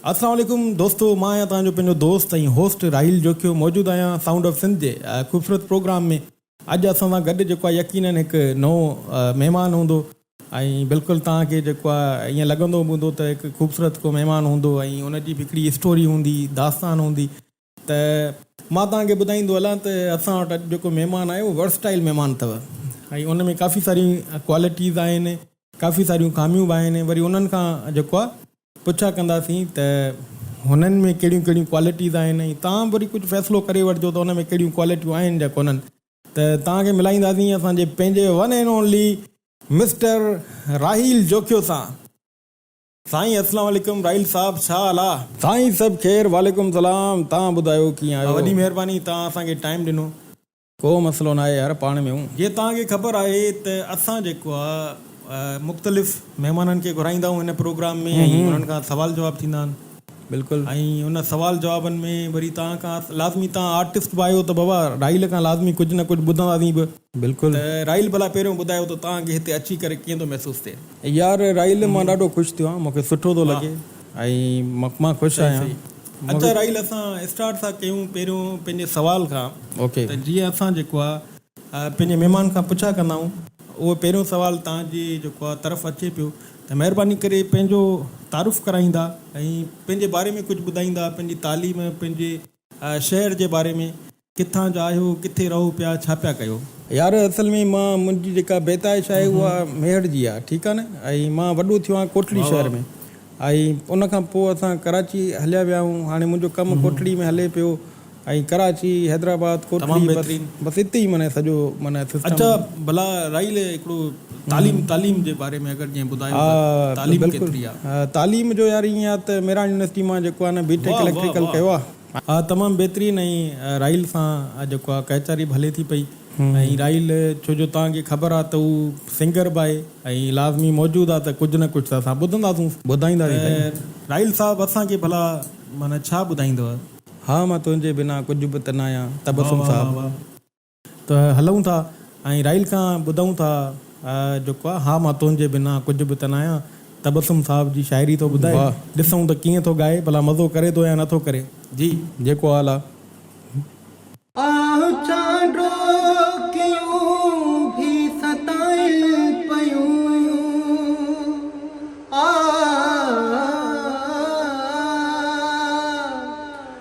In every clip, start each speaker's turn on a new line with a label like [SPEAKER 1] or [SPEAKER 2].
[SPEAKER 1] السلام عليڪم دوستو مان آهيان توهان جو پنهنجو دوست ۽ هوسٽ راحيل جوکيو موجود آهيان سائونڊ آف سنڌ جي خوبصورت پروگرام ۾ اڄ اسان سان گڏ جيڪو آهي يقينن هڪ نئون مهمان هوندو ۽ بلڪل توهان کي جيڪو آهي ائين لڳندو به هوندو ته هڪ خوبصورت ڪو مهمان هوندو ۽ ان جي به هڪڙي اسٽوري هوندي داستان هوندي ته مان توهان کي ٻڌائيندو هلان ته اسان وٽ اڄ جيڪو مهمان آهي اهو ورسٽائل مهمان اٿو ۽ ان ۾ ڪافي ساريون ڪوالٽيز آهن ڪافي ساريون خاميون به آهن وري انهن کان جيڪو آهي پڇا ڪنداسين ته هنن ۾ ڪهڙيون ڪهڙيون ڪوالٽيز آهن ۽ توهان وري ڪجهه فيصلو ڪري وٺجو ته ان ۾ ڪهڙيون ڪوالٽيون آهن يا ڪونهن ته توهان کي ملائينداسين اسان جي پنهنجي one and only mister Raheel Jokhio سان. سائين اسلام عليڪم راحيل صاحب ڇا حال آ. سائين سڀ خير وعليڪم سلام توهان ٻڌايو ڪيئن آهيو. وڏي مهرباني توهان اسان کي ٽائيم ڏنو. ڪو مسئلو ناهي يار پاڻ ۾ اهون. جي توهان کي خبر آهي ته اسان جيڪو آ مختلف مهمانن کي گهرائيندا آهيون هن پروگرام ۾ ۽ انهن کان سوال جواب ٿيندا آهن بلڪل ۽ ان سوال جوابن ۾ وري توهان کان لازمي توهان آرٽسٽ به آهيو ته بابا راحيل کان لازمي ڪجهه نه ڪجهه ٻڌنداسين به. بلڪل. راحيل ڀلا پهريون ٻڌايو ته توهان کي هتي اچي ڪري ڪيئن ٿو محسوس ٿئي. يار راحيل مان ڏاڍو خوش ٿيو آهيان مون کي سٺو ٿو لڳي ۽ مان خوش آهيان. صحيح صحيح اچا راحيل اسان اسٽارٽ ٿا ڪيون پهريون پنهنجي سوال کان اوڪي ته جيئن اسان جيڪو آ پنهنجي مهمان کان پڇا ڪندا آهيون اهو پهريون سوال توهان جي جيڪو آ طرف اچي پيو ته مهرباني ڪري پنهنجو تعارف ڪرائيندا ۽ پنهنجي باري ۾ ڪجهه ٻڌائيندا پنهنجي تعليم پنهنجي شهر جي باري ۾ ڪٿان جا آهيو، ڪٿي رهو پيا، ڇا پيا ڪيو؟ يار اصل ۾ مان منهنجي جيڪا بيتايش آهي اها ميهڙ جي آهي ٺيڪ آهي نه ۽ مان وڏو ٿيو آهيان ڪوٽڙي شهر ۾ ۽ ان کان پوء اسان ڪراچي هليا ويا آهيون هاڻي منهنجو ڪم ڪوٽڙي ۾ هلي پيو ۽ ڪراچي حيدرآباد ڪوٽڙي بس بس اتي ئي معنيٰ سڄو معنيٰ سسٽم اچا ڀلا رائي لي هڪڙو تعليم تعليم جي باري ۾ اگر جيئن ٻڌايو ها تعليم ڪيتري آهي تعليم جو يار ائين آهي ته ميراڻ يونيورسٽي مان جيڪو آهي نه بي ٽيڪ اليڪٽريڪل ڪيو آهي ها تمام بهترين ۽ رائل سان جيڪو آ ڪهچاري به هلي ٿي پئي ۽ رائل ڇو جو توهان کي خبر آ ته هو سنگر به آهي ۽ لازمي موجود آ ته ڪجهه نه ڪجهه ته اسان ٻڌنداسونس. ٻڌائينداسين سائين. رائل صاحب اسان کي ڀلا معنيٰ ڇا ٻڌائيندؤ؟ ها مان تنهنجي بنا ڪجهه به ته ناهيان تبسم صاحب. ته هلئون ٿا ۽ راحيل کان ٻڌئون ٿا جيڪو آ ها مان تنهنجي بنا ڪجهه به ته نه آهيان. تبسم صاحب جي شاعري ٿو ٻڌائي ڏسئون ته ڪيئن ٿو ڳائي ڀلا مزو ڪري ٿو يا نه ٿو ڪري. جي جيڪو آ لا. آه چان ڏوڪيون ڀي ستائين پيون آه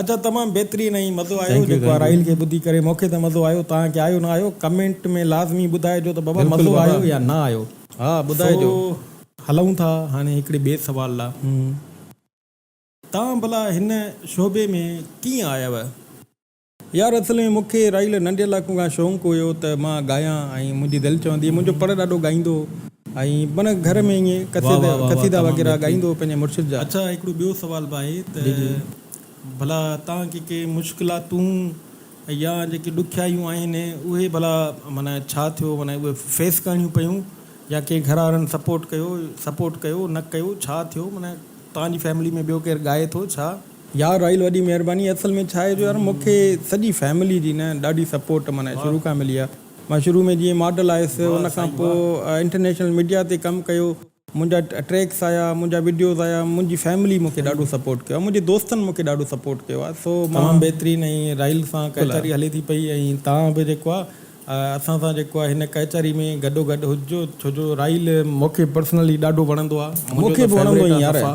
[SPEAKER 1] ادا تمام بهترين ۽ مزو آيو جيڪو آرائيل کي ٻڌي ڪري مونکي ته مزو آيو توهان کي آيو نه آيو ڪمينٽ ۾ لازمي ٻڌائجو ته بابا مزو آيو يا نه آيو ها ٻڌائجو. سو هلون ٿا هاڻي هڪڙي ٻئي سوال ڏانهن توهان ڀلا هن شعبي ۾ ڪيئن آيو؟ يار اصل ۾ مونکي رائيل ننڍي لاڪون کان شونق هيو ته مان ڳايان ۽ منهنجي دل چوندي هئي منهنجو پڙ ڏاڏو ڳائيندو هو. ۽ پڻ گهر ۾ ائين قصيدا وغيره ڳائيندو هو پنهنجي مرشد جا. اڇا هڪڙو ٻيو سوال به آهي ته ڀلا تان ڪي ڪي مشڪلاتون يا جيڪي ڏکيائيون آهن اهي ڀلا معنيٰ ڇا ٿيو معنيٰ اهي فيس ڪرڻيون پيون يا ڪي گهراڙن سپورٽ ڪيو سپورٽ ڪيو نه ڪيو ڇا ٿيو معنيٰ تان جي فيملي ۾ ٻيو ڪير ڳائي ٿو ڇا يار راحيل وڏي مهرباني اصل ۾ ڇا آهي جو يار مونکي سڄي فيملي جي نه ڏاڍي سپورٽ معنيٰ شروع کان ملي آهي. مان شروع ۾ جيئن ماڊل آيس ان کان پوء انٽرنيشنل ميڊيا تي ڪم ڪيو منهنجا ٽريڪس آيا منهنجا وڊيوز آيا منهنجي فيملي مونکي ڏاڍو سپورٽ ڪيو آهي منهنجي دوستن مونکي ڏاڍو سپورٽ ڪيو آهي سو مان تمام بهترين ۽ رايل سان ڪهچاري هلي ٿي پئي ۽ توهان به جيڪو آهي اسان سان جيڪو آهي هن ڪهچاري ۾ گڏو گڏ هججو ڇو جو رايل مونکي پرسنلي ڏاڍو وڻندو آهي منهنجو ته فيوريٽ آهي صفا.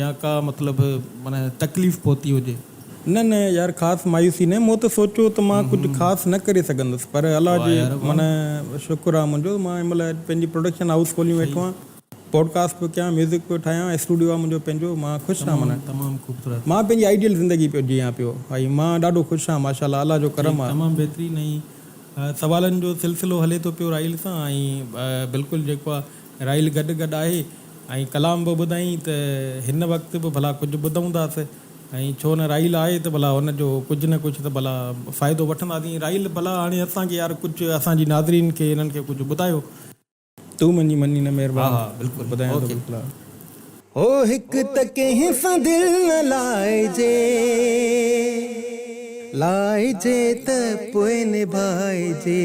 [SPEAKER 1] يا ڪا مطلب معنيٰ تڪليف پهتي هجي؟ نه نه يار خاص مايوسي نه مون ته سوچيو ته مان ڪجهه خاص نه ڪري سگهندس پر الله جي معنيٰ شڪر آهي منهنجو مان هن مهل پنهنجي پروڊڪشن هائوس کولي ويٺو آهيان پوڊڪاسٽ پيو ڪيان ميوزڪ پيو ٺاهيان اسٽوڊيو آهي منهنجو پنهنجو مان خوش آهيان معنيٰ مان پنهنجي آئيڊيل زندگي پيو جيان پيو ۽ مان ڏاڍو خوش آهيان ماشاء الله الله جو ڪرم آهي. تمام بهترين ۽ سوالن جو سلسلو هلي ٿو پيو راحيل سان ۽ بلڪل جيڪو آهي راحيل گڏ گڏ آهي. ۽ ڪلام به ٻڌائين ته هن وقت به ڀلا ڪجهه ٻڌون ٿا سي ۽ ڇو نه راحيل آهي ته ڀلا هن جو ڪجهه نه ڪجهه ته ڀلا فائدو وٺنداسين راحيل ڀلا هاڻي اسان کي يار ڪجهه اسان جي ناظرين کي هنن کي ڪجهه ٻڌايو. تون منهنجي مني نه مهربان. ها ها بلڪل ٻڌايان ٿو بلڪل. هو
[SPEAKER 2] هڪ ته ڪنهن سان دل نه لائجي لائجي ته پوء نڀائجي.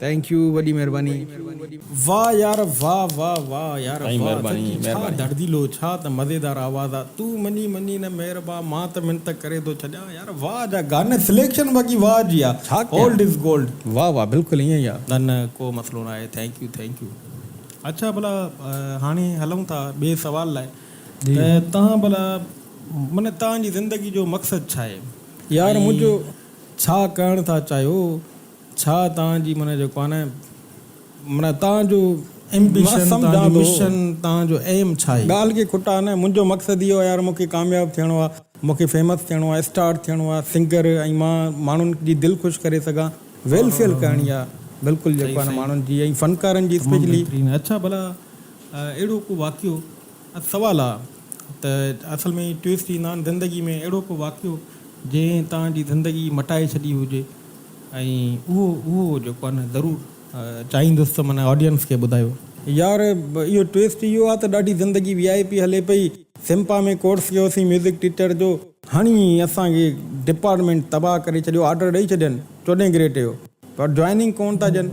[SPEAKER 1] ٿينڪ يو وڏي مھرباني. واه يار واه واه واه يار سائين واه مھرباني ٿڪي ڇا مھرباني. دڙديلو ڇا ته مزيدار آواز آ تون مڃي مڃي نه مھربا مان ته منت ڪري ٿو ڇڏيان يار واه جا گاني سليڪشن باقي واه جي آ ڇا ڪيان اولڊ از گولڊ. واه واه بلڪل ائين ئي آ. نه نه ڪو مسئلو ناهي ٿينڪ يو ٿينڪ يو اڇا ڀلا هاڻي هلون ٿا ٻئي سوال لاء جي ته تهان ڀلا معنيٰ تهان جي زندگي جو مقصد ڇا آهي يار ۽ منهنجو ڇا ڪرڻ ٿا چاهيو ڇا توهان جي معنيٰ جو ڪانه آهي معنيٰ توهان جو ايمبيشن توهان جو مشن توهان جو ايم ڇا آهي. ڳالهه کي کٽا نه منهنجو مقصد اهو آهي يار مون کي ڪامياب ٿيڻو آهي مون کي فيمس ٿيڻو آهي اسٽار ٿيڻو آهي سنگر ۽ مان ماڻهن جي دل خوش ڪري سگهان ويلفيئر ڪرڻي آهي بلڪل جيڪو آهي نه ماڻهن جي ۽ فنڪارن جي اسپيشلي. اڇا ڀلا اهڙو ڪو واقعو اڄ سوال آهي ته اصل ۾ ٽوئسٽ ايندا آهن زندگي ۾ اهڙو ڪو واقعو جنهن توهان جي زندگي مٽائي ڇڏي هجي. ۽ اهو اهو جيڪو آهي نه ضرور چاهيندس ته من آڊينس کي ٻڌايو. يار اهو ٽويسٽ اهو آ ته ڏاڍي زندگي وي آء پي هلي پئي سمپا ۾ ڪورس ڪيو سين ميوزڪ ٽيچر جو هڻي اسان کي ڊپارٽمينٽ تباهه ڪري ڇڏيو آرڊر ڏئي ڇڏين چوڏهين گريٽ جو پر جوائننگ ڪون ٿا ڏين.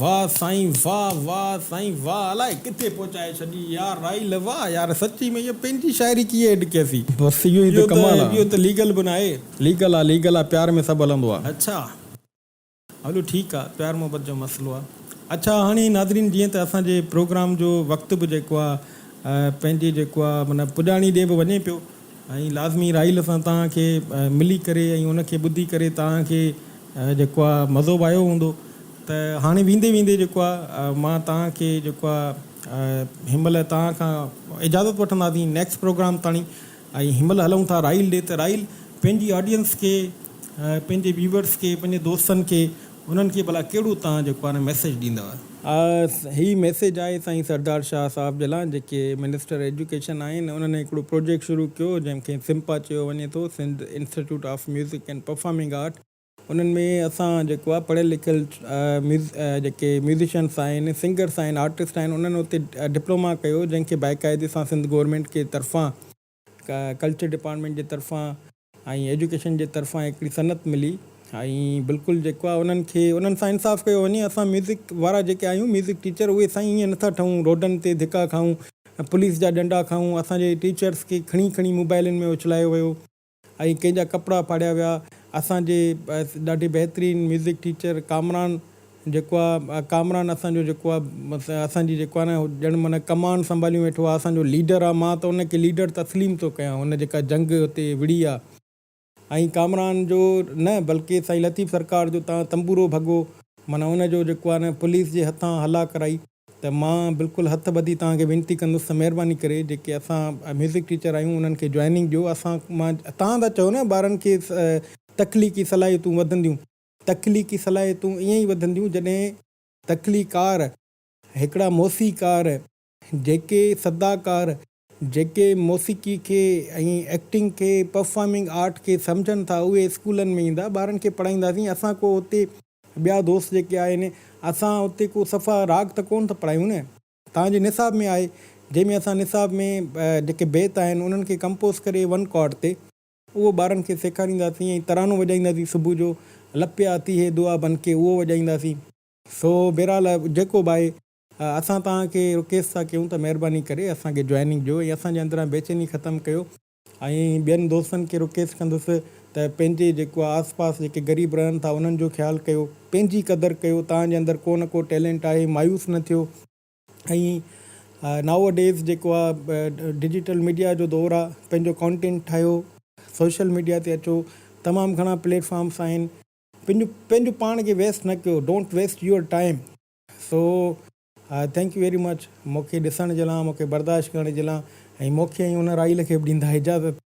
[SPEAKER 2] واه
[SPEAKER 1] سائين واه واه سائين واه الاء ڪٿي پهچائي ڇڏي يار راحيل واه يار سچي ۾ اهو پنهنجي شاعري ڪيئن ايڊ ڪيسي بس اهو ئي ته ڪمال
[SPEAKER 2] آ. اهو ته ليگل به ناهي.
[SPEAKER 1] ليگل آ ليگل آ
[SPEAKER 2] پيار ۾ سڀ هلندو آ. اڇا
[SPEAKER 1] هلو ٺيڪ آ پيار محبت جو مسئلو آ. اڇا هاڻي ناظرين جيئن ته اسان جي پروگرام جو وقت به جيڪو آ پنهنجي جيڪو آ معنيٰ پڄاڻي ڏي به وڃي پيو. ۽ لازمي راحيل سان توهان کي ملي ڪري ۽ ان کي ٻڌي ڪري توهان کي جيڪو آ مزو به آيو هوندو ته هاڻي ويندي ويندي جيڪو آ مان توهان کي جيڪو آ هن مهل توهان کان اجازت وٺنداسين نيڪسٽ پروگرام تاڻي ۽ هن مهل هلون ٿا راحيل ڏي ته راحيل پنهنجي آڊينس کي پنهنجي ويورس کي پنهنجي دوستن کي انهن کي ڀلا ڪهڙو توهان جيڪو هاڻي ميسيج ڏيندؤ؟ آء هي ميسيج آهي
[SPEAKER 2] سائين سردار شاهه صاحب جي لاء جيڪي منسٽر ايجوڪيشن آهن انهن هڪڙو پروجيڪٽ شروع ڪيو جنهن کي سمپا چيو وڃي ٿو Sindh institute of music and performing art انهن ۾ اسان جيڪو آهي پڙهيل لکيل جيڪي ميوزيشنس آهن سنگرس آهن آرٽسٽ آهن انهن اتي ڊپلوما ڪيو جنهن کي باقاعدي سان سنڌ گورنمينٽ کي طرفان ڪلچر ڊپارٽمينٽ جي طرفان ۽ ايجوڪيشن جي طرفان هڪڙي صنعت ملي ۽ بلڪل جيڪو آهي انهن کي انهن سان انصاف ڪيو وڃي اسان ميوزڪ وارا جيڪي آهيون ميوزڪ ٽيچر اهي سائين ائين نٿا ٺهون روڊن تي ڌڪا کائون پوليس جا ڏنڊا کائون اسان جي ٽيچرس کي کڻي کڻي موبائلن ۾ اڇلايو ويو ۽ ڪنهن جا ڪپڙا ڦاڙيا ويا اسان جي ڏاڍي بهترين ميوزڪ ٽيچر ڪامران جيڪو آ ڪامران اسان جو جيڪو آ اسان جي جيڪو آ نه ڄڻ معنيٰ ڪمان سنڀاليون ويٺو آ اسان جو ليڊر آ مان ته ان کي ليڊر تسليم ٿو ڪيان هن جيڪا جنگ هتي وڙهي آ ۽ ڪامران جو نه بلڪه سائين لطيف سرڪار جو تان تنبورو ڀڳو معنيٰ ان جو جيڪو آ نه پوليس جي هٿان هلا ڪرائي ته مان بلڪل هٿ ٻڌي توهان کي وينتي ڪندس ته مهرباني ڪري جيڪي اسان ميوزڪ ٽيچر آهيون انهن کي جوائننگ ڏيو اسان مان توهان ٿا چئو نه ٻارن کي تخليقي صلاحيتون وڌنديون تخليقي صلاحيتون ائين ئي وڌنديون جڏهن تخليقار هڪڙا موسيقار جيڪي صداڪار جيڪي موسيقي کي ۽ ايڪٽنگ کي پرفارمنگ آرٽ کي سمجهن ٿا اهي اسڪولن ۾ ايندا ٻارن کي پڙهائينداسين اسان ڪو اتي ٻيا دوست جيڪي آهن اسان اتي ڪو صفا راڳ ته ڪونه ٿا پڙهايون نه توهان جي نصاب ۾ آهي جنهن ۾ اسان نصاب ۾ جيڪي بيت آهن انهن کي ڪمپوز ڪري ون ڪارڊ تي اهو ٻارن کي سيکارينداسين ۽ ترانو وڄائينداسين صبح جو، لپيا آتي هي دعا بن ڪي اهو وڄائينداسين. سو بهرحال جيڪو به آهي اسان توهان کي رڪيسٽ ٿا ڪيون ته مهرباني ڪري اسان کي جوائننگ ڏيو ۽ اسان جي اندران بيچيني ختم ڪيو ۽ ٻين دوستن کي رڪيسٽ ڪندس ته پنهنجي جيڪو آهي آس پاس جيڪي غريب رهن ٿا انهن جو خيال ڪيو پنهنجي قدر ڪيو توهان جي اندر ڪو نه ڪو ٽيلنٽ آهي مايوس نه ٿيو ۽ نائو اَ ڊيز جيڪو آ ڊجيٽل ميڊيا جو دور آ پنهنجو ڪانٽينٽ ٺاهيو سوشل ميڊيا تي اچو تمام گهڻا پليٽ فارمس آهن پنهنجو پنهنجو پاڻ کي ويسٽ نه ڪيو don't waste your time so thank you very much مونکي ڏسڻ جي لا مونکي برداشت ڪرڻ جي لا ۽ مونکي ۽ ان رائيل کي به ڏيندا اجازت.